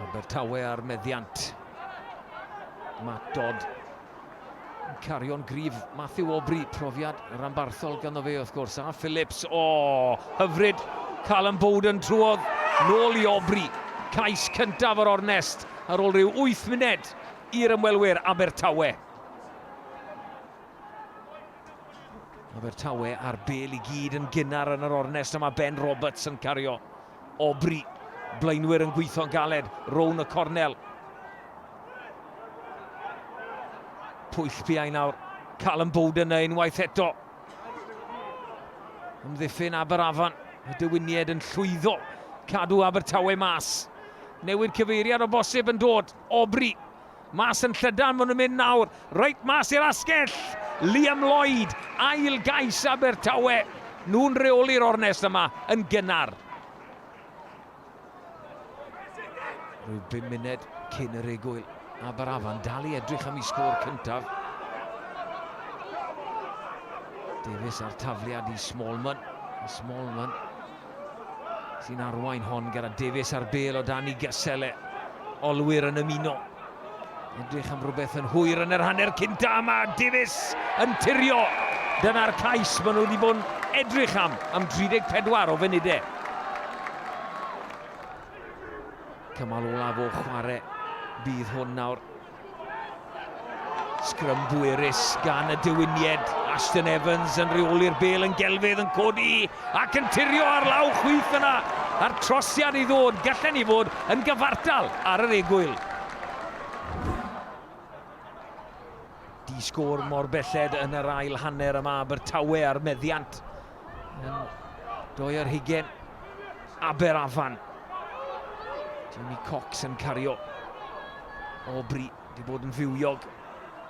Abertawe ar meddiant. Matt Dodd yn cario'n grif. Matthew Aubrey, profiad ranbarthol ganddo fe wrth gwrs. A Phillips, o, oh, hyfryd. Callum Bowden trwodd nôl i Aubrey. Cais cyntaf o'r ornest ar ôl rhyw 8 munud i'r ymwelwyr Abertawe. Abertawe ar bel i gyd yn gynnar yn yr ornest a mae Ben Roberts yn cario. Aubrey. Blaenwyr yn gweithio'n galed rown y cornel. Pwyll piau nawr. Callum Bowden na unwaith eto. Ymddiffyn Aberafan. Y diwynied yn llwyddo. Cadw Abertawe mas. Newid cyfeiriad o bosib yn dod. Aubrey. Mas yn llydan ma' nhw'n mynd nawr, reit mas i'r asgell! Liam Lloyd, ail gais Abertawe. Nhw'n reoli'r ornest yma yn gynnar. Rhyw bum munud cyn yr egwyl. Aberafan dal i edrych am i sgôr cyntaf. Davies a'r tafliad i Smallman. Smallman sy'n arwain hon gyda Davies ar bel o dan i Geselle. Olwyr yn ymuno. Edrych am rhywbeth yn hwyr yn yr hanner cynta yma. Davies yn tirio. Dyna'r cais maen nhw wedi bod yn edrych am am 34 o funudau. Cymal olaf o chwarae. Bydd hwn nawr Sgrym bwerus gan y diwynied. Ashton Evans yn rheoli'r bel yn gelfydd yn codi ac yn tirio ar law chwith yna. A'r trosiad i ddod, gallen ni fod yn gyfartal ar yr egwyl. Di-sgôr mor belled yn yr ail hanner yma Abertawe ar meddiant. Doi ar hugen. Aber Afan. Jamie Cox yn cario. Aubrey wedi bod yn fywiog.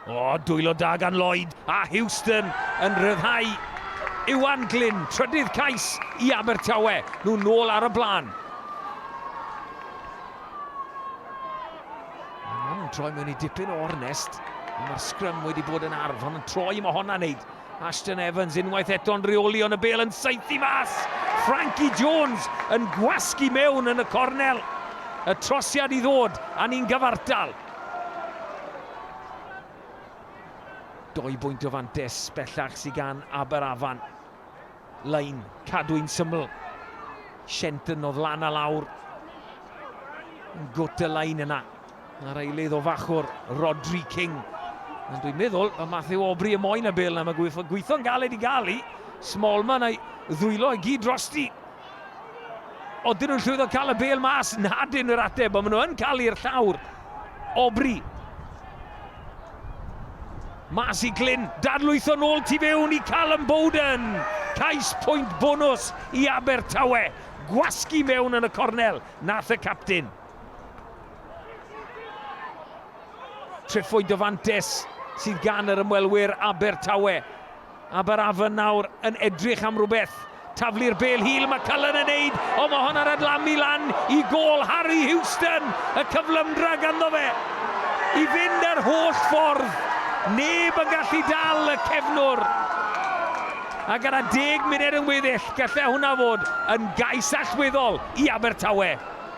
O, dwylo da gan Lloyd a Houston yn rhyddhau Iwan Glyn, trydydd cais i Abertawe, nhw'n nôl ar y blaen. Mae'n troi mewn i dipyn o ornest, mae'r sgrym wedi bod yn arf, ond yn troi mae hon a wneud. Ashton Evans unwaith eto'n reoli ond y bêl yn saethu mas! Frankie Jones yn gwasgu mewn yn y cornel. Y trosiad i ddod a ni'n gyfartal. Doi bwynt o fantes bellach sydd gan Aberafan. Lein, cadwyn syml. Shenton oedd lan a lawr. Yn gwt y lein yna. Ar eilydd o fachwr Rodri King. Ond dwi'n meddwl mae Matthew Aubrey y moyn y bel na mae gweithio, gweithio'n galed i gael i. Smallman a'i ddwylo i gyd drosti. Oedden nhw'n llwyddo cael y bel mas, nad yn yr ateb, ond maen nhw yn cael i'r llawr. Aubrey. Mas i Glyn, dadlwytho nôl tu fewn i Callum Bowden. Cais pwynt bonus i Abertawe. Gwasgu mewn yn y cornel, nath y captyn. Treffoedd dyfantes sydd gan yr ymwelwyr Abertawe. Aberafan nawr yn edrych am rhywbeth. Taflu'r bel hil, mae Cullen yn neud, o mae hon ar adlamu lan i gol Harry Houston, y cyflymdra ganddo fe. I fynd yr holl ffordd, neb yn gallu dal y cefnwr. A gyda deg munud yn weddill, gallai hwnna fod yn gais allweddol i Abertawe.